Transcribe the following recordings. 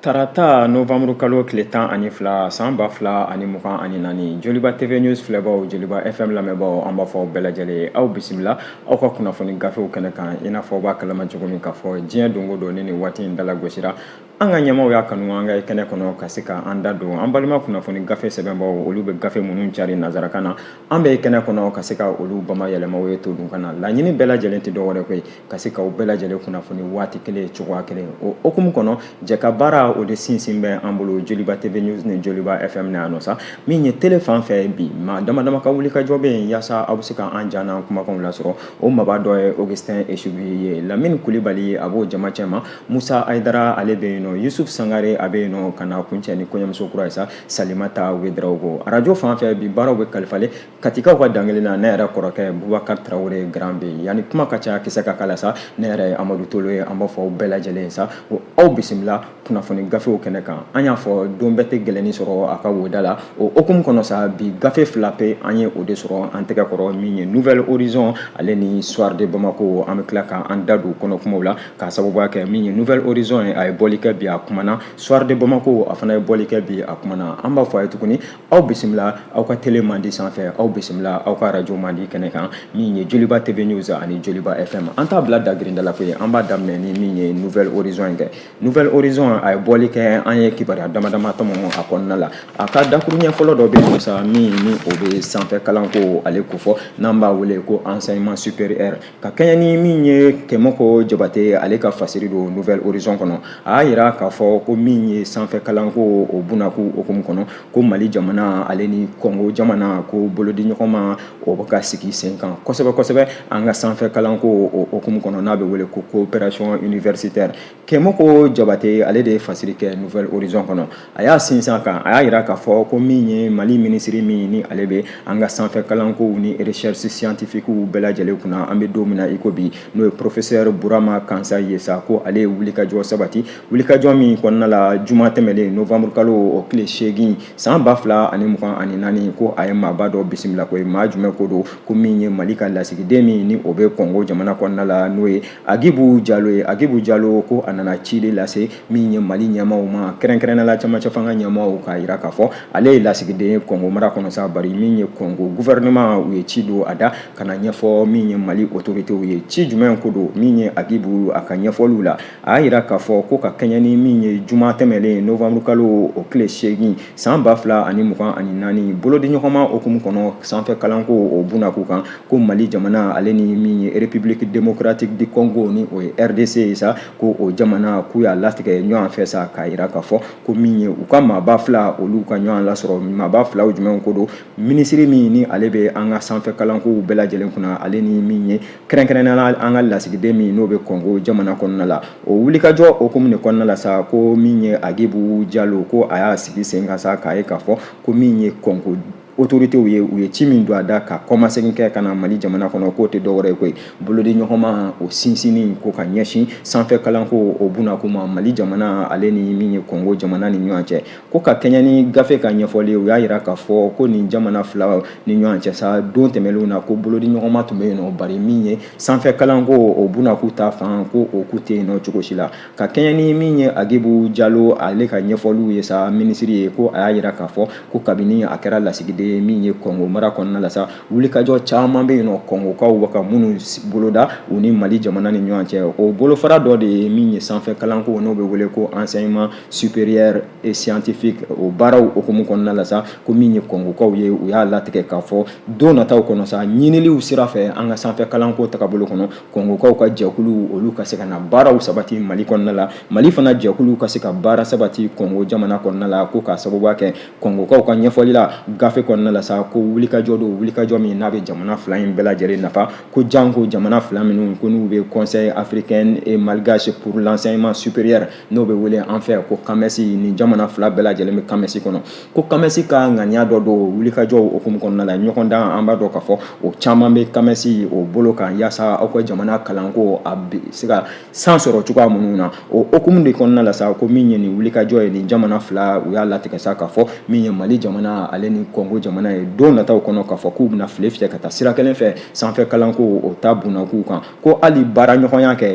Tarata nowanburukalo tile tan ani fila san ba fila ani mugan ani naani joliba tv news filɛbaw joliba fm lamɛnbaaw an b'a fɔ aw bɛɛ lajɛlen ye aw bisimila aw ka kunnafoni gafew kɛnɛ kan i n'a fɔ aw b'a kalama cogo min k'a fɔ diɲɛ don go don ni nin waati in talan gosira an ka ɲɛmaw y'a kanu an ka kɛnɛ kɔnɔ ka se ka an da don an balima kunnafoni gafe sɛbɛnbaw olu bɛ gafe minnu cari nanzarakan na an bɛ kɛnɛ kɔnɔ ka se ka olu bamayɛlɛma aw ye todunkan na laɲini bɛɛ lajɛlen tɛ dɔwɛrɛ ko ye ka se ka aw bɛɛ lajɛlen kunnafoni waati kelen cogoya kelen o hukumu kɔnɔ jɛkabaara o de sinsin bɛ an bolo joliba tv news ni joliba fm na yan nɔ sa min ye tele fan fɛ bi maa damadama ka wulikajɔ bɛ yen yaasa aw bɛ se ka an ja n'an kumakanw lasɔrɔ o maaba dɔ ye augustin esubi ye lamini kulibali a b'o jama cɛma Musa Ayidara ale bɛ yen nɔ Yusuf Sangare a bɛ yen nɔ ka na kuncɛ ni kɔɲɔmuso kura ye sa Salimata Wederawogo arajo fan fɛ bi baaraw bɛ kalifalen katikaw ka dankelen na ne yɛrɛ kɔrɔkɛ Bubakari Tarawele Grand B yanni kuma ka ca kisɛ ka kala sa ne yɛrɛ ye Amadu Tolo ye an b'a fɔ aw bɛɛ lajɛlen ye sa o aw bisimila kunnafoni gafew kɛnɛ kan an y'a fɔ don bɛɛ tɛ gɛlɛnnin sɔrɔ a ka wo da la o hukumu kɔnɔ sa bi gafe fila pe an ye o de sɔrɔ an tɛgɛ kɔrɔ min ye Nouvel Horizon ale ni Soir de Bamako an bɛ tila ka an da don kɔnɔkumaw la ka sababuya kɛ min ye nouvel horizon ye a ye bɔli kɛ bi a kumana soir de bamako a fana ye bɔli kɛ bi a kumana an b'a fɔ aw ye tuguni aw bisimila aw ka tele mandi sanfɛ aw bisimila aw ka radio mandi kɛnɛ kan min ye joliba tv news ani joliba fm an t'a bila dagirinda la koyi an b'a daminɛ ni min ye nouvel horizon kɛ nouvel horizon a ye bɔli kɛ an ye kibaruya damadama tɔmɔ a kɔnɔna la a ka dakuruɲɛ fɔlɔ dɔ bɛ yen sa min ni o bɛ sanfɛ kalanko ale kofɔ n'an b'a wele ko enseignement supérieur ka kɛɲɛ ni min ye kɛmɔkɔ jabate ale ka fasiri don nouvel horizon kɔnɔ a y'a yira k'a fɔ ko min ye sanfɛ kalanko o bunako hukumu kɔnɔ ko mali jamana ale ni kɔngo jamana ko bolodiɲɔgɔnma o bɛ ka sigi sen kan kosɛbɛ kosɛbɛ an ka sanfɛ kalanko o hukumu kɔnɔ n'a bɛ wele ko coopération universitaire Kɛmɔkɔ jabate ale de ye fasiri kɛ nouvel horizon kɔnɔ a y'a sinsin a kan a y'a jira k'a fɔ ko min ye mali minisiri min ni ale bɛ an ka sanfɛ kalankow ni recherche scientifique bɛɛ lajɛlen kunna an bɛ don min na i ko bi n'o ye professeur Burama Kansaye ye sa ko ale ye wulikajɔ sabati wulikajɔ min kɔnɔna la juma tɛmɛnen novembre kalo o tile seegin san ba fila ani mugan ani naani ko a ye maaba dɔ bisimila ko ye maa jumɛn ko don ko min ye mali ka lasigiden min ni o bɛ kɔngo jamana kɔnɔna la n'o ye Agibu Jalo ye Agibu Jalo ko a nana ci de lase min ye Mali ɲɛmaaw ma kɛrɛnkɛrɛnnenya la camancɛ fanga ɲɛmaaw k'a jira k'a fɔ ale ye lasigiden ye Kɔngo mara kɔnɔ sa bari min ye Kɔngo gouvernement u ye ci don a da ka na ɲɛfɔ min ye Mali autorités ye ci jumɛn ko don min ye Agibu a ka ɲɛfɔliw la a y'a jira k'a fɔ ko ka kɛɲɛ ni min ye juma tɛmɛnlen novembre kalo o tile seegin san ba fila ani mugan ani naani bolodiɲɔgɔnma hukumu kɔnɔ sanfɛ kalanko o bunako kan ko mali jamana ale ni min ye republique démocratique du congo ni o ye rdc ye sa ko o jamana k'u y'a latigɛ ɲɔgɔn fɛ sa k'a yira k'a fɔ ko min ye u ka maaba fila olu ka ɲɔgɔn lasɔrɔ maaba filaw jumɛnw ko don minisiri min ni ale bɛ an ka sanfɛ kalankow bɛɛ lajɛlen kunna ale ni min ye kɛrɛnkɛrɛnnenya la an ka lasigiden min n'o bɛ kɔngo jamana kɔnɔna la o wulikajɔ hukumu de kɔnɔna la sa ko min ye agibu jalo ko a y'a sigi sen kan sa k'a ye k'a fɔ ko min ye kɔngo autoritéw ye u ye ci min don a da ka kɔmasegin kɛ ka na mali jamana kɔnɔ k'o tɛ dɔwɛrɛ ye koyi bolodi ɲɔgɔnma o sinsinni ko ka ɲɛsin sanfɛ kalanko o bunako ma mali jamana ale ni min ye kɔngo jamana ni ɲɔgɔn cɛ ko ka kɛɲɛ ni gafe ka ɲɛfɔli u y'a jira k'a fɔ ko nin jamana fila ni ɲɔgɔn cɛ sa don tɛmɛnlenw na ko bolodi ɲɔgɔnma tun bɛ yen nɔ bari min ye sanfɛ kalanko o bunako ta fan ko o kun tɛ yen nɔ cogo si la ka kɛɲɛ ni min ye agibu jalo ale ka ɲɛfɔliw ye sa minisiri ye ko a y'a jira k'a fɔ ko kabini a kɛra lasigiden ye min ye kɔngo mara kɔnɔna la sa wulikajɔ caman bɛ yen nɔ kɔngokaw bɛ ka minnu boloda u ni mali jamana ni ɲɔgɔn cɛ o bolofara dɔ de ye min ye sanfɛ kalanko n'o bɛ wele ko enseignement supérieur et scientifique o baaraw hukumu kɔnɔna la sa ko min ye kɔngokaw ye u y'a latigɛ k'a fɔ don nataw kɔnɔ sa ɲiniliw sira fɛ an ka sanfɛ kalanko tagabolo kɔnɔ kɔngokaw ka jɛkuluw olu ka se ka na baaraw sabati mali kɔnɔna la mali fana jɛkuluw ka se ka baara sabati kɔngo jamana kɔnɔna la ko k'a sababuya kɛ kɔngokaw ka ɲɛfɔli la gafe kɔnɔna la sa ko wulikajɔ don wulikajɔ min n'a bɛ jamana fila in bɛɛ lajɛlen nafa ko janko jamana fila minnu ko n'u bɛ conseil africain et malgache pour l'enseignement supérieur n'o bɛ wele an fɛ ko kamɛsi nin jamana fila bɛɛ lajɛlen bɛ kamɛsi kɔnɔ ko kamɛsi ka ŋaniya dɔ don wulikajɔw hukumu kɔnɔna la ɲɔgɔndan an b'a dɔn k'a fɔ o caman bɛ kamɛsi o bolo kan yaasa aw ka jamana kalanko a bɛ se ka san sɔrɔ cogoya minnu na o hukumu de kɔnɔna la sa ko min ye nin wulikajɔ ye nin jamana fila u y'a latigɛ sa k'a fɔ min ye mali jamana ale ni kɔngo jamana ye don nataw kɔnɔ k'a fɔ k'u bɛna file fiyɛ ka taa sira kelen fɛ sanfɛ kalanko o ta bunakow kan ko hali baara ɲɔgɔnya kɛ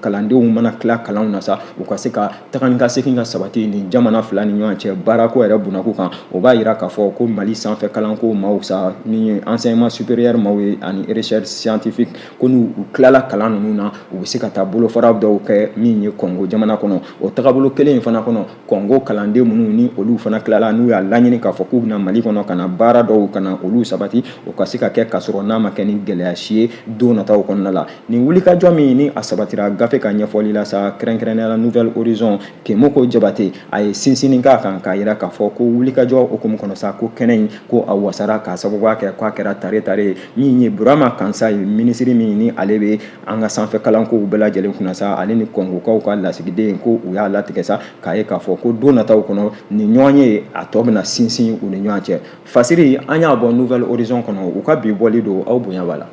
kalandenw mana tila kalanw na sa u ka se ka taga ni ka segin ka sabati ni jamana fila ni ɲɔgɔn cɛ baarako yɛrɛ bunako kan o b'a yira k'a fɔ ko mali sanfɛ kalanko maaw sa min ye enseignement supérieur maaw ye ani recherche scientifique ko n'u tilala kalan ninnu na u bɛ se ka taa bolofara dɔw kɛ min ye kɔngo jamana kɔnɔ o tagabolo kelen in fana kɔnɔ kɔngo kalanden minnu ni olu fana tilala n'u y'a laɲini k'a fɔ k'u bɛ na mali kɔnɔ ka na baara dɔw ka na olu sabati o ka se ka kɛ k'a sɔrɔ n'a ma kɛ ni gɛlɛya si ye don nataw kɔnɔna la nin wulikajɔ min ni a sabatira gafe ka ɲɛfɔli la sa kɛrɛnkɛrɛnnenya la nouvel horizon kemoko jabate a ye sinsinni k'a kan k'a yira k'a fɔ ko wulikajɔ hukumu kɔnɔ sa ko kɛnɛ in ko a wasara k'a sababuya kɛ k'a kɛra tare tare ye min ye burama kansaye minisiri min ni ale bɛ an ka sanfɛ kalankow bɛɛ lajɛlen kunna sa ale ni kongokaw ka lasigiden ko u y'a latigɛ sa k'a ye k'a fɔ ko don nataw kɔnɔ nin ɲɔgɔnye a tɔ bɛna sinsin u ni ɲɔgɔn cɛ fasiri an y'a bɔ nouvel horizon kɔnɔ u ka bi bɔli don aw bonya b'a la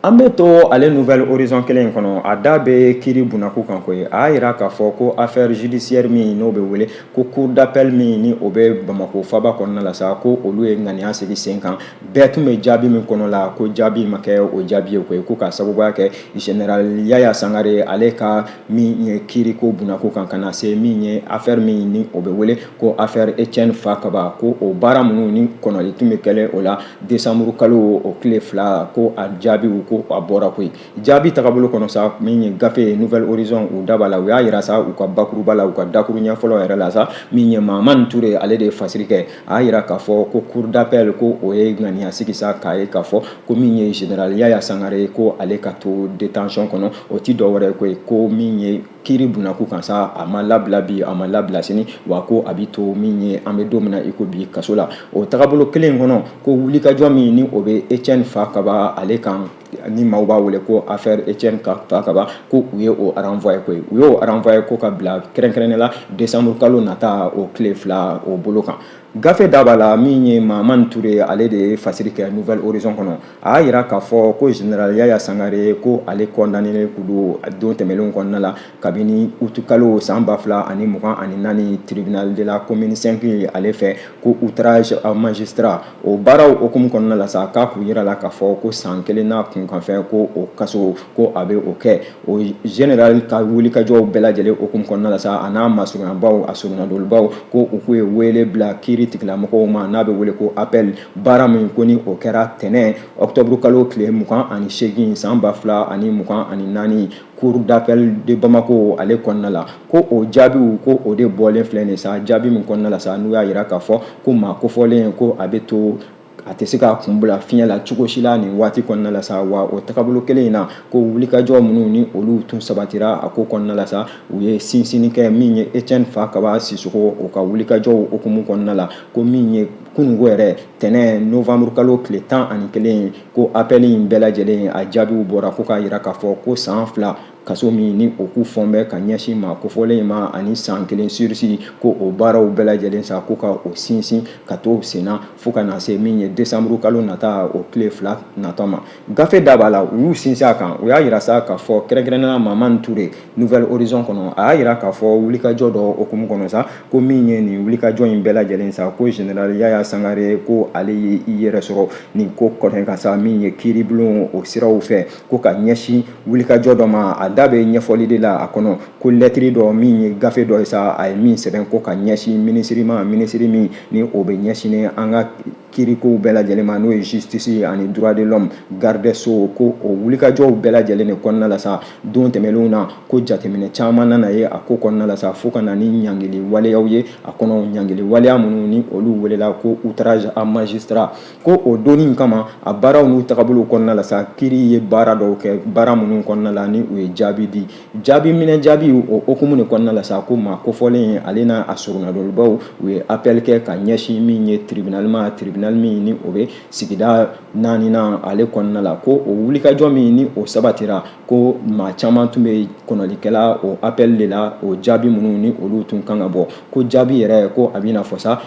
An bɛ to ale nouvel horizon kelen in kɔnɔ a da bɛ kiiri bunako kan koyi a y'a yira k'a fɔ ko affaire judiciaire min n'o bɛ wele ko cour d'appel min ni o bɛ Bamako faba kɔnɔna la sa ko olu ye ŋaniya sigi sen kan bɛɛ tun bɛ jaabi min kɔnɔ la ko jaabi ma kɛ o jaabi ye koyi ko k'a sababuya kɛ général Yaya Sangare ale ka min ye kiiriko bunako kan ka na se min ye affaire min ni o bɛ wele ko affaire Etienne Fakaba ko o baara minnu ni kɔnɔli tun bɛ kɛlen o la desanburu kalo o tile fila ko a jaabiw ko a bɔra koyi jaabi tagabolo kɔnɔ sa min ye gafe ye nouvel horizon u da b'a la u y'a yira sa u ka bakuruba la u ka dakuru ɲɛ fɔlɔ yɛrɛ la sa min ye mahamani ture ale de ye fasiri kɛ a y'a yira k'a fɔ ko cour d'appel ko o ye ŋaniya sigi sa k'a ye k'a fɔ ko min ye général yaya sangare ko ale ka to détention kɔnɔ o ti dɔ wɛrɛ ye koyi ko min ye kiiri bunako kan sa a ma labila bi a ma labila sini wa ko a bɛ to min ye an bɛ don min na i ko bi kaso la o tagabolo kelen in kɔnɔ ko wulikajɔ min ni o bɛ etienne fakaba ale kan ni maaw b'a wele ko affaire etienne ka fakaba ko u ye o renvoyer koyi u y'o renvoyer ko k'a bila kɛrɛnkɛrɛnnen la décembre kalo nata o tile fila o bolo kan gafe da b'a la min ye mahamani ture ale de ye fasiri kɛ nouvel horizon kɔnɔ a y'a yira k'a fɔ ko général yaya sangare ko ale kɔndaninen kun don don tɛmɛnlenw kɔnɔna la kabini utukalo san ba fila ani mugan ani naani tribunal de la commune 5 ale fɛ ko outrage à magistrat o baaraw hukumu kɔnɔna la sa k'a kun yirala k'a fɔ ko san kelen n'a kunkanfɛn ko o kaso ko a bɛ o kɛ o général ka wulikajɔw bɛɛ lajɛlen hukumu kɔnɔna la sa a n'a masurunyabaaw a soronadolibaaw ko u kun ye wele bila kiiri tigilamɔgɔw ma n'a bɛ wele ko appel baara min ko ni o kɛra tɛnɛn ɔkutɔburu kalo tile mugan ani seegin san ba fila ani mugan ani naani cour d'appel de bamako ale kɔnɔna la ko o jaabiw ko o de bɔlen filɛ nin sa jaabi min kɔnɔna la sa n'u y'a yira k'a fɔ ko maa kofɔlen ko a bɛ to a tɛ se k'a kun bila fiɲɛ la cogo si la nin waati kɔnɔna la sa wa o tagabolo kelen in na ko wulikajɔ minnu ni olu tun sabatira a ko kɔnɔna la sa u ye sinsinni kɛ min ye Etienne Fakaba Sisoko o ka wulikajɔw hukumu kɔnɔna la ko min ye kunungo yɛrɛ tɛnɛn novembre kalo tile tan ani kelen ko apɛli in bɛɛ lajɛlen a jaabiw bɔra ko k'a yira k'a fɔ ko san fila kaso min ni o k'u fɔn bɛ ka ɲɛsin maa kofɔlen in ma ani san kelen surisi ko o baaraw bɛɛ lajɛlen sa ko ka o sinsin ka to senna fo ka na se min ye desanburu kalo nata o tile fila nata ma Gafe da b'a la u y'u sinsin a kan u y'a yira sa k'a fɔ kɛrɛnkɛrɛnnenya la Maman Ture Nouvel Horizon kɔnɔ a y'a yira k'a fɔ wulikajɔ dɔ hukumu kɔnɔ sa ko min ye nin wulikajɔ in bɛɛ lajɛlen sa ko General Yaya Sangare ko ale ye i yɛrɛ sɔrɔ nin ko kunkan sa min ye kiiribulon o siraw fɛ ko ka ɲɛsin wulikajɔ dɔ ma a da bɛ ɲɛfɔli de la a kɔnɔ ko lɛtiri dɔ min ye gafe dɔ ye sa a ye min sɛbɛn ko ka ɲɛsin minisiri ma minisiri min ni o bɛ ɲɛsinnen an ka kiirikow bɛɛ lajɛlen ma n'o ye justice ye ani droit de l'homme garde sceaux ko o wulikajɔw bɛɛ lajɛlen de kɔnɔna la sa don tɛmɛnlenw na ko jateminɛ caman nana ye a ko kɔnɔna la sa fo ka na ni ɲangili waleyaw ye a kɔnɔ ɲangili waleya minnu ni olu welela ko outrage à magistrat ko o donni kama a baaraw n'u tagabolo kɔnɔna la sa kiiri ye baara dɔw kɛ baara minnu kɔnɔna la ni u ye jaabi di jaabi minɛ jaabi o hukumu de kɔnɔna la sa ko maa kofɔlen ale n'a a soronadolibaw u ye appel kɛ ka ɲɛsin min ye tribunal ma tribunal min ni o bɛ sigida naaninan ale kɔnɔna la ko o wulikajɔ min ni o sabatira ko maa caman tun bɛ kɔnɔli kɛ la o appel de la o jaabi minnu ni olu tun kan ka bɔ ko jaabi yɛrɛ ko a bɛ na fɔ sa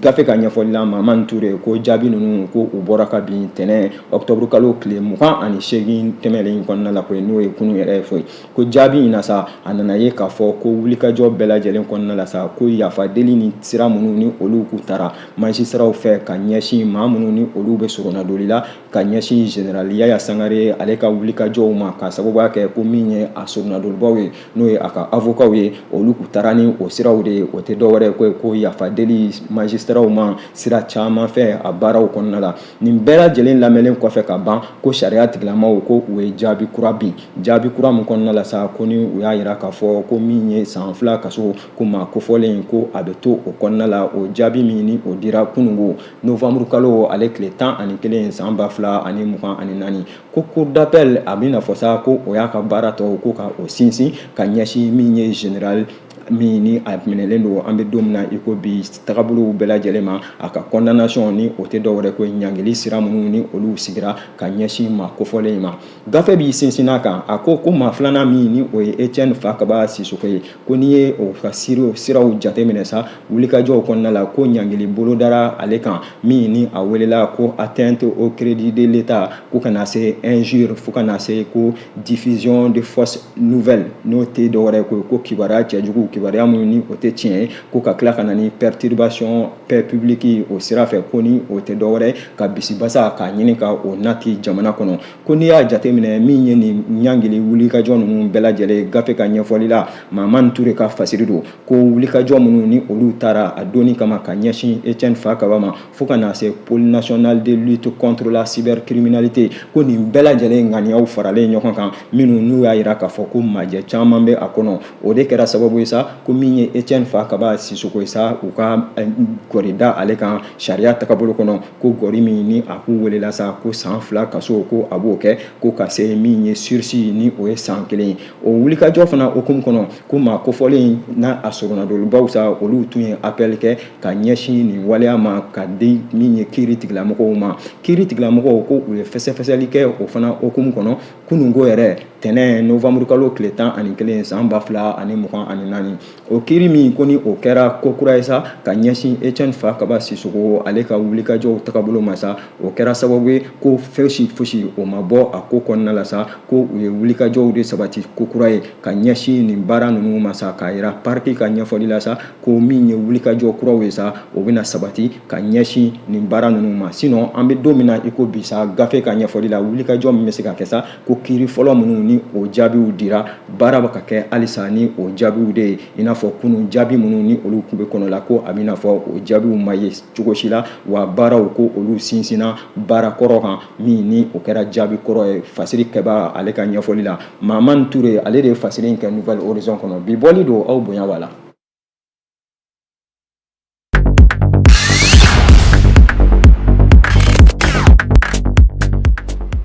gafe ka ɲɛfɔli la Mamani Ture ko jaabi ninnu ko u bɔra kabin tɛnɛn ɔkutɔburu kalo tile mugan ani seegin tɛmɛlen in kɔnɔna la koyi n'o ye kunun yɛrɛ ye foyi ko jaabi in na sa a nana ye k'a fɔ ko wulikajɔ bɛɛ lajɛlen kɔnɔna la sa ko yafa deli ni sira minnu ni olu k'u tara magistratw fɛ ka ɲɛsin maa minnu ni olu bɛ soronadoli la ka ɲɛsin general yaya sangare ale ka wulikajɔw ma ka sababuya kɛ ko min ye a soronadolibaw ye n'o ye a ka avokaw ye olu k'u tara ni o siraw de ye o tɛ dɔwɛrɛ koyi ko yafa deli magistratw ma sira caman fɛ a baaraw kɔnɔna la nin bɛɛ lajɛlen lamɛnlen kɔfɛ ka ban ko sariya tigilamaw ko u ye jaabi kura bin jaabi kura min kɔnɔna la sa ko ni u y'a yira k'a fɔ ko min ye san fila kaso ko maa kofɔlen ko a bɛ to o kɔnɔna la o jaabi min ni o dira kunun ko novanburu kalo ale tile tan ani kelen san ba fila ani mugan ani naani ko cour d'appel a bɛ na fɔ sa ko o y'a ka baara tɔw ko ka o sinsin ka ɲɛsin min ye general min ni a minɛlen don an bɛ don min na i ko bi tagabolow bɛɛ lajɛlen ma a ka condamnation ni o tɛ dɔwɛrɛ ko ɲangili sira minnu ni olu sigira ka ɲɛsin maa kofɔlen in ma gafe b'i sinsin a kan a ko ko maa filanan min ni o ye Etienne Fakaba Sisoko ye ko n'i ye o ka siraw jateminɛ sa wulikajɔw kɔnɔna la ko ɲangili bolodara ale kan min ni a welela ko atteinte au crédit de l'état ko ka na se injure fo ka na se ko diffusion de fausses nouvelles n'o tɛ dɔwɛrɛ ko ko kibaruya cɛjugu kibaruya minnu ni o tɛ tiɲɛ ye ko ka tila ka na ni perturbation paix publique o sira fɛ ko ni o tɛ dɔwɛrɛ ka bisibasa k'a ɲini ka o nati jamana kɔnɔ ko n'i y'a jateminɛ min ye nin ɲangili wulikajɔ ninnu bɛɛ lajɛlen gafe ka ɲɛfɔli la Mahamani Ture ka fasiri don ko wulikajɔ minnu ni olu tara a donni kama ka ɲɛsin Etienne Fakaba ma fo ka na se pôle national de lutte contre la cybercriminalité ko nin bɛɛ lajɛlen ŋaniyaw faralen ɲɔgɔn kan minnu n'u y'a yira k'a fɔ ko majɛ caman bɛ a kɔnɔ o de kɛra sababu ye sa ko min ye etiɛne fakaba sisoko ye sa u ka eh, gɔri da ale kan sariya tagabolo kɔnɔ ko gɔri min ni a k'u welela sa ko san fila kaso ko a b'o kɛ ko ka se min ye sursis ni o ye san kelen ye o wulikajɔ fana hukumu kɔnɔ ko maa kofɔlen n'a a soronnadonlibaw sa olu tun ye appel kɛ ka ɲɛsin nin waleya ma ka di min ye kiiri tigilamɔgɔw ma kiiri tigilamɔgɔw ko u ye fɛsɛfɛsɛli kɛ o fana hukumu kɔnɔ kununko yɛrɛ tɛnɛn novembre kalo tile tan ani kelen san ba fila ani mugan ani naani o kiiri min ko ni o kɛra ko kura ye sa ka ɲɛsin etiɛne fakaba sisoko ale ka wulikajɔw tagabolo ma sa o kɛra sababu ye ko fosi fosi o ma bɔ a ko kɔnɔna la sa ko u ye wulikajɔw de sabati ko kura ye ka ɲɛsin nin baara ninnu ma sa k'a yira parquet ka ɲɛfɔli la sa ko min ye wulikajɔ kuraw ye sa o bɛna sabati ka ɲɛsin nin baara ninnu ma sinon an bɛ don min na i ko bi sa gafe ka ɲɛfɔli la wulikajɔ min bɛ se ka kɛ sa ko kiiri fɔlɔ minnu ni o jaabiw dira baara bɛ ka kɛ halisa ni o jaabiw de ye i n'a fɔ kunun jaabi minnu ni olu kun bɛ kɔnɔ la ko a b'i n'a fɔ o jaabiw ma ye cogo si la wa baaraw ko olu sinsinna baara kɔrɔ kan min ni o kɛra jaabi kɔrɔ ye fasiri kɛbaa ale ka ɲɛfɔli la Mahamani Ture ale de ye fasiri in kɛ Nouvel Horizon kɔnɔ bi bɔli don aw bonya b'a la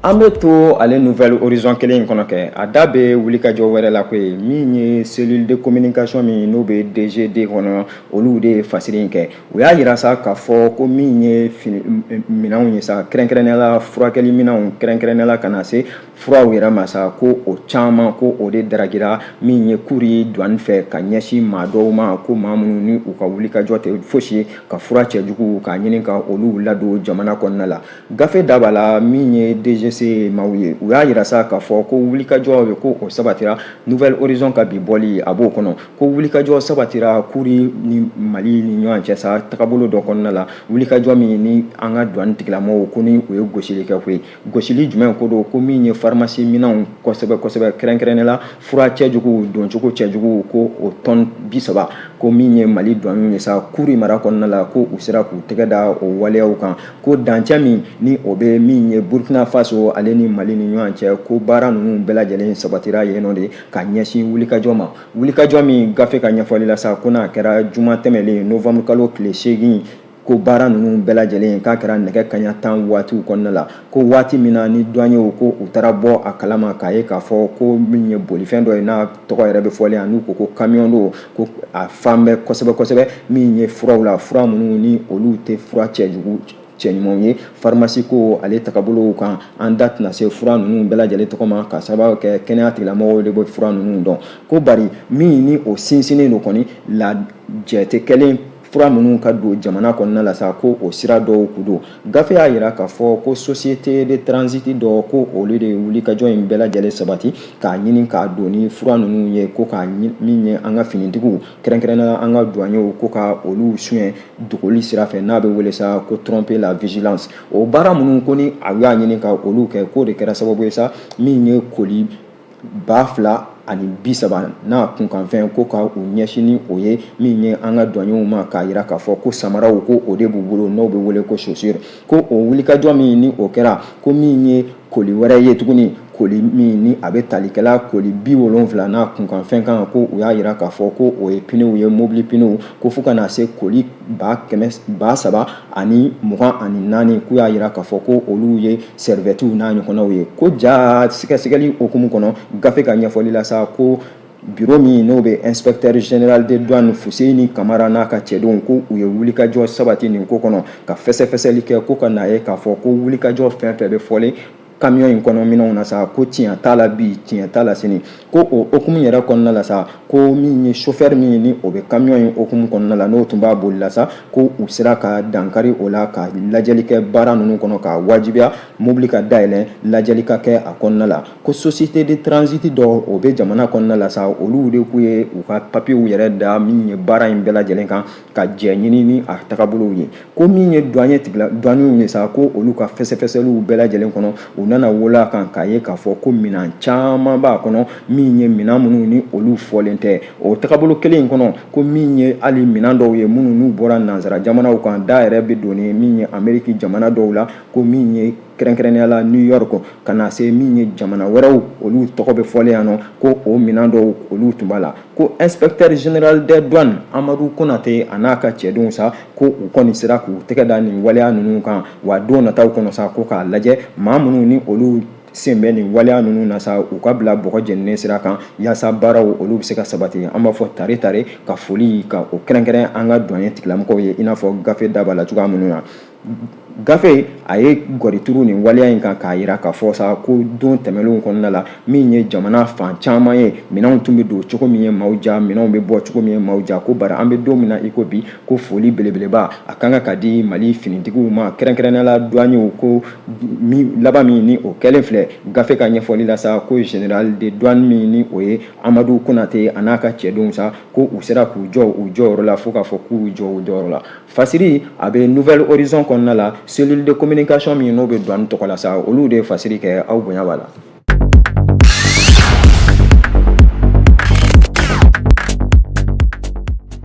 An bɛ to ale nouvel horizon kelen in kɔnɔ kɛ, a da bɛ wulikajɔ wɛrɛ la koyi min ye cellule de communication min n'o bɛ DGD kɔnɔ olu de ye fasiri in kɛ, u y'a yira sa k'a fɔ ko min ye minɛnw ye sa kɛrɛnkɛrɛnnenya la furakɛli minɛnw kɛrɛnkɛrɛnnenya la ka na se furaw yɛrɛ ma sa ko o caman ko o de daragira min ye kuri duwani fɛ ka ɲɛsin maa dɔw ma ko maa minnu ni u ka wulikajɔ tɛ fosi ye ka fura cɛjuguw k'a ɲini ka olu ladon jamana kɔnɔna la gafe da b'a la min ye dgc maaw ye u y'a yira sa k'a fɔ ko wulikajɔ ye ko o sabatira nouvel horizon ka bi bɔli a b'o kɔnɔ ko wulikajɔ sabatira kuri ni mali ni ɲɔgɔn cɛ sa tagabolo dɔ kɔnɔna la wulikajɔ min ni an ka duwani tigilamɔgɔw ko ni u ye gosili kɛ ko ye gosili jumɛn ko don ko min ye farimasi minɛnw kosɛbɛ kosɛbɛ kɛrɛnkɛrɛnnen la fura cɛjuguw doncogo cɛjuguw ko o tɔn bi saba ko min ye mali duwani ye sa kuri mara kɔnɔna la ko u sera k'u tɛgɛ da o waleyaw kan ko dancɛ min ni o bɛ min ye burkina faso ale ni mali ni ɲɔgɔn cɛ ko baara ninnu bɛɛ lajɛlen sabatira yen nɔ de ka ɲɛsin wulikajɔ ma wulikajɔ min gafe ka ɲɛfɔli la sa ko n'a kɛra juma tɛmɛlen novamuru kalo tile seegin ko baara ninnu bɛɛ lajɛlen k'a kɛra nɛgɛ kaɲa tan waatiw kɔnɔna la ko waati min na ni duwanyew ko u taara bɔ a kalama k'a ye k'a fɔ ko min ye bolifɛn dɔ ye n'a tɔgɔ yɛrɛ bɛ fɔlen yan n'u ko ko kamiyɔn don ko a fan bɛ kosɛbɛ kosɛbɛ min ye furaw la fura minnu ni olu tɛ fura cɛjugu cɛɲumanw ye farimasi ko ale tagabolow kan an da tɛna se fura ninnu bɛɛ lajɛlen tɔgɔ ma k'a sababu kɛ kɛnɛya tigilamɔgɔw de bɛ fura ninnu dɔn ko bari min ni o sinsinnen don kɔni lajɛ tɛ kɛlen fura minnu ka don jamana kɔnɔna la sa ko o sira dɔw ku don gafe y'a yira k'a fɔ ko société de transit dɔ ko olu de wulikajɔ in bɛɛ lajɛlen sabati k'a ɲini ka don ni fura ninnu ye ko ka min ye an ka finitigiw kɛrɛnkɛrɛnnenya an ka duwanyew ko ka olu suɲɛ dogoli sira fɛ n'a bɛ wele sa ko tromper la vigilance o baara minnu ko ni a y'a ɲini ka olu kɛ k'o de kɛra sababu ye sa min ye koli ba fila ani bi saba n'a kunkanfɛn ko ka u ɲɛsin ni o ye min ye an ka duwanyew ma k'a yira k'a fɔ ko samaraw ko o de b'u bolo n'o bɛ wele ko chaussure ko o wulikajɔ min ni o kɛra ko min ye koli wɛrɛ ye tuguni koli min ni a bɛ tali kɛ la koli bi wolonfila n'a kunkanfɛn kan ko u y'a yira k'a fɔ ko o ye piniw ye mobili piniw ko fo ka na se koli ba kɛmɛ ba saba ani mugan ani naani k'u y'a yira k'a fɔ ko olu ye sɛrivɛtiw n'a ɲɔgɔnnaw ye ko jaa sɛgɛsɛgɛli hukumu kɔnɔ gafe ka ɲɛfɔli la sa ko biro min n'o bɛ inspecteur général des douanes Fuseni Kamara n'a ka cɛdenw ko u ye wulikajɔ sabati nin ko kɔnɔ ka fɛsɛfɛsɛli kɛ ko ka n'a ye k'a fɔ ko wulikajɔ fɛn fɛn bɛ fɔlen kamiyɔn in kɔnɔ minɛnw na sa ko tiɲɛ t'a la bi tiɲɛ t'a la sini ko o hukumu yɛrɛ kɔnɔna la sa ko min ye sofɛri min ye ni o bɛ kamiyɔn in hukumu kɔnɔna la n'o tun b'a boli la sa ko u sera ka dankari o la ka lajɛli kɛ baara ninnu kɔnɔ k'a wajibiya mobili ka dayɛlɛ lajɛli ka kɛ a kɔnɔna la ko société de transit dɔ o bɛ jamana kɔnɔna la sa olu de k'u ye u ka papiyew yɛrɛ da min ye baara in bɛɛ lajɛlen kan ka jɛ ɲini ni a tagabolow ye ko min ye duwanye tigila duwanyew ye sa ko olu ka fɛsɛfɛsɛliw bɛɛ lajɛlen kɔnɔ u nana wolo a kan k'a ye k'a fɔ ko minan caman b'a kɔnɔ min ye minan minnu ni olu fɔlen tɛ o tagabolo kelen in kɔnɔ ko min ye hali minan dɔw ye minnu n'u bɔra nansara jamanaw kan da yɛrɛ bɛ don ni min ye ameriki jamana dɔw la ko min ye kɛrɛnkɛrɛnnenya la new york ka na se min ye jamana wɛrɛw olu tɔgɔ bɛ fɔlen yan nɔ ko o minɛn dɔw olu tun b'a la ko inspecteur général des douanes amadu konate a n'a ka cɛdenw sa ko u kɔni sera k'u tɛgɛ da nin waleya ninnu kan wa don nataw kɔnɔ sa ko k'a lajɛ maa minnu ni olu sen bɛ nin waleya ninnu na sa u ka bila bɔgɔ jeninen sira kan yaasa baaraw olu bɛ se ka sabati an b'a fɔ tare tare ka foli ka o kɛrɛnkɛrɛn an ka duwanye tigilamɔgɔw ye i n'a fɔ gafe da b'a la cogoya minnu na gafe a ye gɔri turu nin waleya in kan k'a jira k'a fɔ sa ko don tɛmɛnlenw kɔnɔna la min ye jamana fan caman ye minɛnw tun bɛ don cogo min ye maaw ja minɛnw bɛ bɔ cogo min ye maaw ja ko bari an bɛ don min na iko bi ko foli belebeleba a ka kan ka di mali finitigiw ma kɛrɛnkɛrɛnnenya la duwanyew ko laban min ni o kɛlen filɛ gafe ka ɲɛfɔli la sa ko général de douane min ni o ye amadu konate a n'a ka cɛdenw sa ko u sera k'u jɔ u jɔyɔrɔ la fo k'a fɔ k'u jɔ u jɔyɔrɔ la Fasiri a bɛ nouvel horizon kɔnɔna la cellule de communication min n'o bɛ douane tɔgɔ la sa olu de ye fasiri kɛ aw bonya b'a la.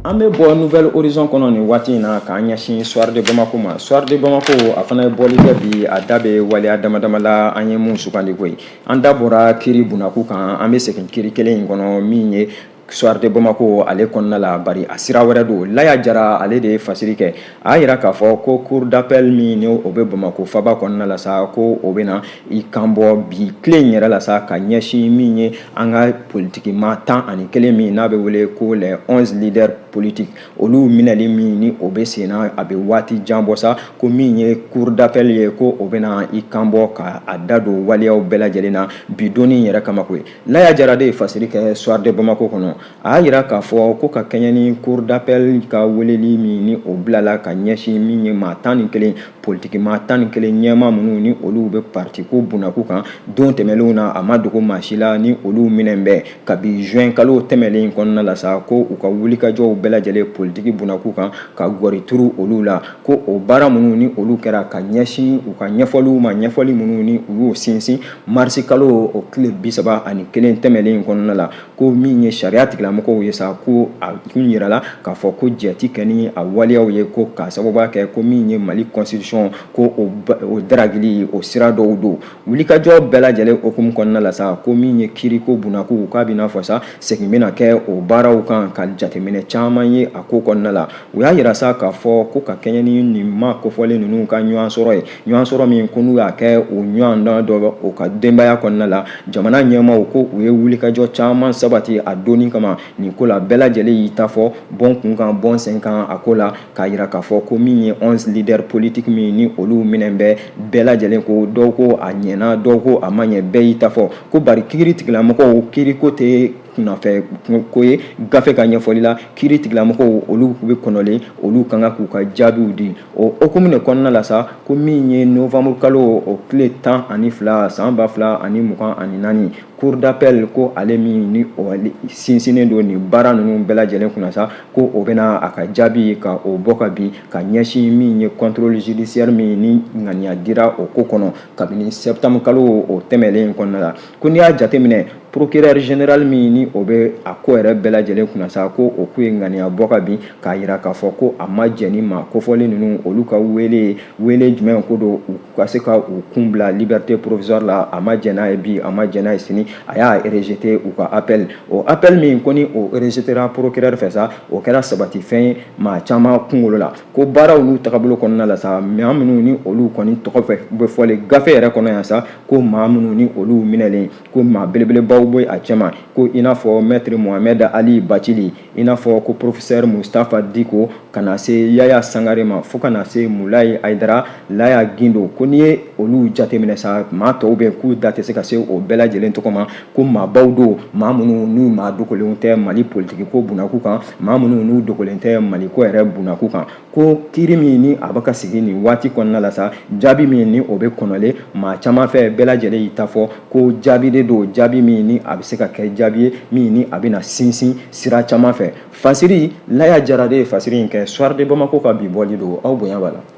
An bɛ bɔ nouvel horizon kɔnɔ nin waati in na k'an ɲɛsin soir de Bamako ma soir de Bamako a fana ye bɔli kɛ bi a da bɛ waleya damadama la an ye mun sugandi koyi an da bɔra kiri bunako kan an bɛ segin kiri kelen in kɔnɔ min ye Soir de Bamako ale kɔnɔna la bari a sira wɛrɛ don Laya Jara ale de ye fasiri kɛ a y'a jira k'a fɔ ko cour d'appel min n'o bɛ Bamako faaba kɔnɔna la sa ko o bɛna i kanbɔ bi tile in yɛrɛ la sa ka ɲɛsin min ye an ka politiki maa tan ani kelen min n'a bɛ wele ko les 11 leaders politiques olu minɛli min ni o bɛ sen na a bɛ waati jan bɔ sa ko min ye cour d'appel ye ko o bɛna i kanbɔ ka a da don waleyaw bɛɛ lajɛlen na bi don in yɛrɛ kama koyi laya jara de ye fasiri kɛ soir de bamako kɔnɔ a y'a jira k'a fɔ ko ka kɛɲɛ ni cour d'appel ka weleli min ni o bilala ka ɲɛsin min ye maa tan ni kelen politiki maa tan ni kelen ɲɛmaa minnu ni olu bɛ partiko bunako kan don tɛmɛnlenw na a ma dogo maa si la ni olu minɛn bɛ kabi juin kalo tɛmɛnlen kɔnɔna la sa ko u ka wulikajɔw bɛɛ lajɛlen politiki bunako kan ka gɔri turu olu la ko o baara minnu ni olu kɛra ka ɲɛsin u ka ɲɛfɔliw ma ɲɛfɔli minnu ni u y'o sinsin Marisi kalo o tile bisaba ani kelen tɛmɛnen in kɔnɔna la ko min ye sariya tigilamɔgɔw ye sa ko a kun jirala k'a fɔ ko jɛti kɛ ni a waleyaw ye ko k'a sababuya kɛ ko min ye mali constitution ko o daragili o sira dɔw don wulikajɔ bɛɛ lajɛlen hukumu kɔnɔna la sa ko min ye kiiriko bunako k'a bɛna fɔ sa segin bɛna kɛ o baaraw kan ka jateminɛ caman ye a ko kɔnɔna la u y'a jira sa k'a fɔ ko ka kɛɲɛ ni nin maa kofɔlen ninnu ka ɲɔgɔn sɔrɔ ye ɲɔgɔn sɔrɔ min ko n'u y'a kɛ u ɲɔgɔn dɔ o ka denbaya kɔnɔna la jamana ɲɛmaaw ko u ye wulikajɔ caman sabati a don in kama nin ko la bɛɛ lajɛlen y'i ta fɔ bɔ n kun kan bɔ n sen kan a ko la k'a jira k'a fɔ ko min ye 11 leaders politiques min ni olu minɛn bɛ bɛɛ lajɛlen ko dɔw ko a ɲɛna dɔw ko a ma ɲɛ bɛɛ y'i ta fɔ ko bari kiri tigilamɔgɔw kiri ko tɛ kunafɛ ko ye gafe ka ɲɛfɔli la kiri tigilamɔgɔw olu bɛ kɔnɔlen olu ka kan k'u ka jaabiw di o hukumu de kɔnɔna la sa ko min ye novembre kalo o tile tan ani fila san ba fila ani mugan ani naani cour d'appel ko ale min ni o sinsinnen don nin baara ninnu bɛɛ lajɛlen kunna sa ko o bɛna a ka jaabi ka o bɔ ka bin ka ɲɛsin min ye contrôle judiciaire min ni ŋaniya dira o ko kɔnɔ kabini septembre kalo o tɛmɛlen kɔnɔna la ko n'i y'a jateminɛ procureur général min ni o bɛ a ko yɛrɛ bɛɛ lajɛlen kunna sa ko o ko ye ŋaniya bɔ ka bin k'a yira k'a fɔ ko a ma jɛn ni maa kofɔlen ninnu olu ka wele wele jumɛn ko don u ka se ka u kun bila liberté provisoire la a ma jɛn n'a ye bi a ma jɛn n'a ye sini a y'a rejeté u ka appel o appel min ko ni o rejetera procureur fɛ sa o kɛra sabatifɛn ye maa caman kunkolo la ko baaraw n'u tagabolo kɔnɔna la sa maa minnu ni olu kɔni tɔgɔ bɛ fɔlen gafe yɛrɛ kɔnɔ yan sa ko maa minnu ni olu minɛlen ko maa belebelebaw bɛ a cɛma ko i n'a fɔ maître mohamed ali bacili i n'a fɔ ko professeur mustafa diko ka na se yaya sangare ma fo kana na se mulayi ayidara laya gindo ko n'i ye olu jateminɛ sa maa tɔw bɛ k'u da tɛ se ka se o bɛɛ lajɛlen tɔgɔ ma ko maabaw don maa minnu n'u maa dogolenw tɛ mali politigi ko bunakun kan maa minnu n'u dogolen tɛ maliko yɛrɛ bunakun kan ko kiiri min ni a bɛ ka sigi nin waati kɔnɔna la sa jaabi min ni o bɛ kɔnɔlen maa caman fɛ bɛɛ lajɛlen y'i ta fɔ ko jaabi de don jaabi min ni a bɛ se ka kɛ jaabi ye min ni a bɛna sinsin sira caman fɛ fasiri laya jara de ye fasiri in kɛ soir de bamako ka bi bɔli don aw bonya b'a la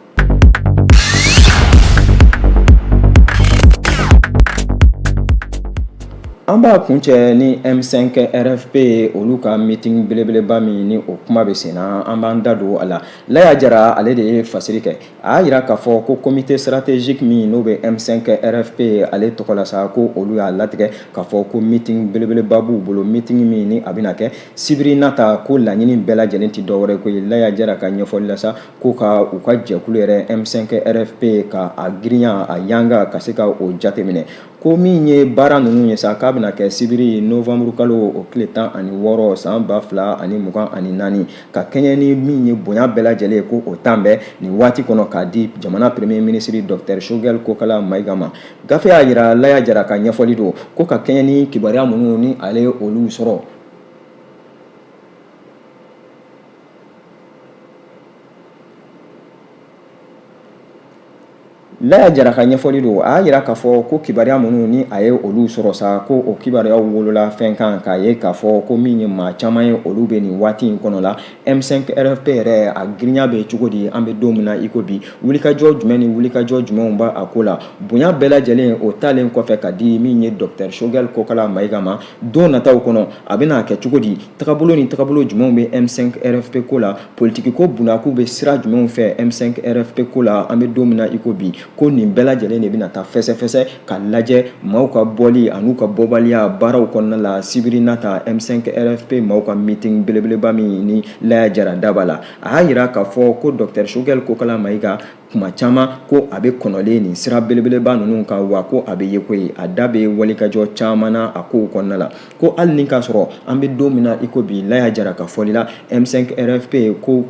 An b'a kuncɛ ni M5 RFP olu ka meeting belebeleba min ni o kuma bɛ senna an b'an da don a la Laya Jara ale de ye fasiri kɛ a y'a yira k'a fɔ ko comité stratégique min n'o bɛ M5 RFP ale tɔgɔ la sa ko olu y'a latigɛ k'a fɔ ko meeting belebeleba b'u bolo meeting min ni a bɛna kɛ sibiri nata ko laɲini bɛɛ lajɛlen tɛ dɔwɛrɛ ko ye Laya Jara ka ɲɛfɔli la sa ko ka u ka jɛkulu yɛrɛ M5 RFP ka a girinya a yanga ka se ka o jateminɛ ko min ye baara ninnu ye sa k'a bɛna kɛ sibiri novanburu kalo o tile tan ani wɔɔrɔ san ba fila ani mugan ani naani ka kɛɲɛ ni min ye bonya bɛɛ lajɛlen ye ko o talen bɛ nin waati kɔnɔ k'a di jamana premier minisiri docteur choguel kokala mayiga ma gafe y'a yira laya jara ka ɲɛfɔli don ko ka kɛɲɛ ni kibaruya minnu ni ale ye olu sɔrɔ laya jara ka ɲɛfɔli don a y'a yira k'a fɔ ko kibaruya minnu ni a ye olu sɔrɔ sa ko o kibaruyaw wolola fɛn kan k'a ye k'a fɔ ko min ye maa caman ye olu bɛ nin waati in kɔnɔ la m5 rfp yɛrɛ a girinya bɛ cogo di an bɛ don min na iko bi wulikajɔ jumɛn ni wulikajɔ jumɛnw b'a ko la bonya bɛɛ lajɛlen o talen kɔfɛ k'a di min ye docteur choguel kokala mayiga ma don nataw kɔnɔ a bɛna a kɛ cogo di Tagabolo ni tagabolo jumɛnw bɛ M5 RFP ko la politiki ko bundaku bɛ sira jumɛnw fɛ M5 RFP ko la an bɛ don min na i ko bi ko nin bɛɛ lajɛlen de bɛna taa fɛsɛfɛsɛ ka lajɛ maaw ka bɔli an'u ka bɔbaliya baaraw kɔnɔna la sibiri nata M5 RFP maaw ka meeting belebeleba min ni Laya Jara da b'a la a y'a yira k'a fɔ ko Docteur Choguel Kokala Mayiga kuma caman ko a bɛ kɔnɔlen nin sira belebeleba ninnu kan wa ko a bɛ ye ko ye a da bɛ wulikajɔ caman na a kow kɔnɔna la ko hali ni k'a sɔrɔ an bɛ don min na i ko bi laya jara ka fɔli la m5 rfp ko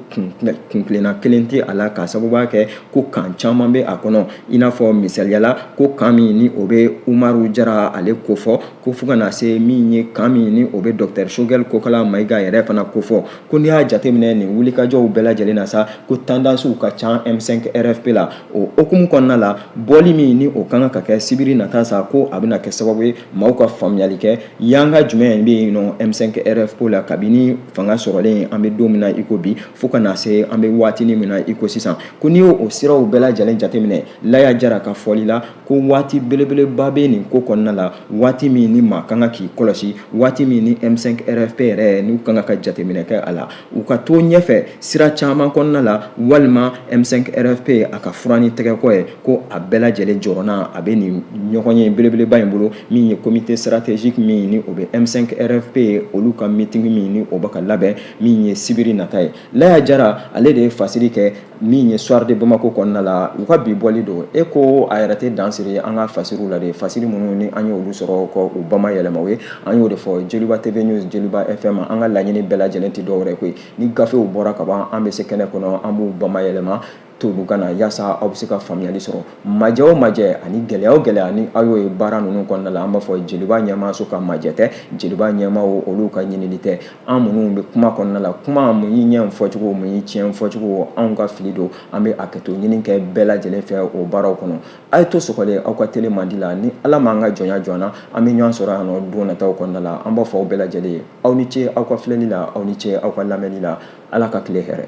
kuntilenna kelen tɛ a la k'a sababuya kɛ ko kan caman bɛ a kɔnɔ i n'a fɔ misaliya la ko kan min ni o bɛ umaru jara ale kofɔ ko fo ka na se min ye kan min ni o bɛ docteur choguel kokala mayiga yɛrɛ fana kofɔ ko n'i y'a jateminɛ nin wulikajɔw bɛɛ lajɛlen na sa ko tandansiw ka ca M5 RFP la o hukumu kɔnɔna la bɔli min ni o kan ka kɛ sibiri nata sa ko a bɛna kɛ sababu ye maaw ka faamuyali kɛ yan ka jumɛn bɛ yen nɔ M5 RFP la kabini fanga sɔrɔlen an bɛ don min na i ko bi fo ka na se an bɛ waatinin min na i ko sisan ko n'i y'o siraw bɛɛ lajɛlen jateminɛ Laya Jara ka fɔli la ko waati belebeleba bɛ nin ko kɔnɔna la waati min ni maa kan ka k'i kɔlɔsi waati min ni M5RFP yɛrɛ n'u kan ka jateminɛ kɛ a la u ka to ɲɛfɛ sira caman kɔnɔna la walima M5RFP a ka furan ni tɛgɛkɔ ye ko a bɛɛ lajɛlen jɔrɔna a bɛ nin ɲɔgɔnye belebeleba in bolo min ye comité stratégique min ni o bɛ M5RFP olu ka meeting min ni o bɛ ka labɛn min ye sibiri nata ye Laya Jara ale de ye fasiri kɛ min ye soir de Bamako kɔnɔna la u ka bi bɔli don e ko a yɛrɛ tɛ dan siri an ka fasiriw la de fasiri minnu ni an y'olu sɔrɔ k'u bama yɛlɛma aw ye an y'o de fɔ Joliba TV News Joliba FM an ka laɲini bɛɛ lajɛlen tɛ dɔwɛrɛ ko ye ni gafew bɔra ka ban an bɛ se kɛnɛ kɔnɔ an b'u bama yɛlɛma tolu kana yasa aw bɛ se ka faamuyali sɔrɔ majɛ o majɛ ani gɛlɛya o gɛlɛya ni aw y'o ye baara ninnu kɔnɔna la an b'a fɔ joliba ɲɛmaaso ka majɛ tɛ joliba ɲɛmaaw olu ka ɲinini tɛ an minnu bɛ kuma kɔnɔna la kuma mun y'i ɲɛ fɔcogo mun y'i tiɲɛ fɔcogo anw ka fili don an bɛ hakɛto ɲini kɛ bɛɛ lajɛlen fɛ o baaraw kɔnɔ a ye to sɔgɔlen aw ka tele mandi la ni ala m'an ka jɔnya jɔ an na an bɛ ɲɔgɔn sɔrɔ yan nɔ don nataw kɔnɔna la an b'a fɔ aw bɛɛ lajɛlen ye aw ni ce aw ka filɛli la aw ni ce aw ka lamɛnni la ala ka tile hɛrɛ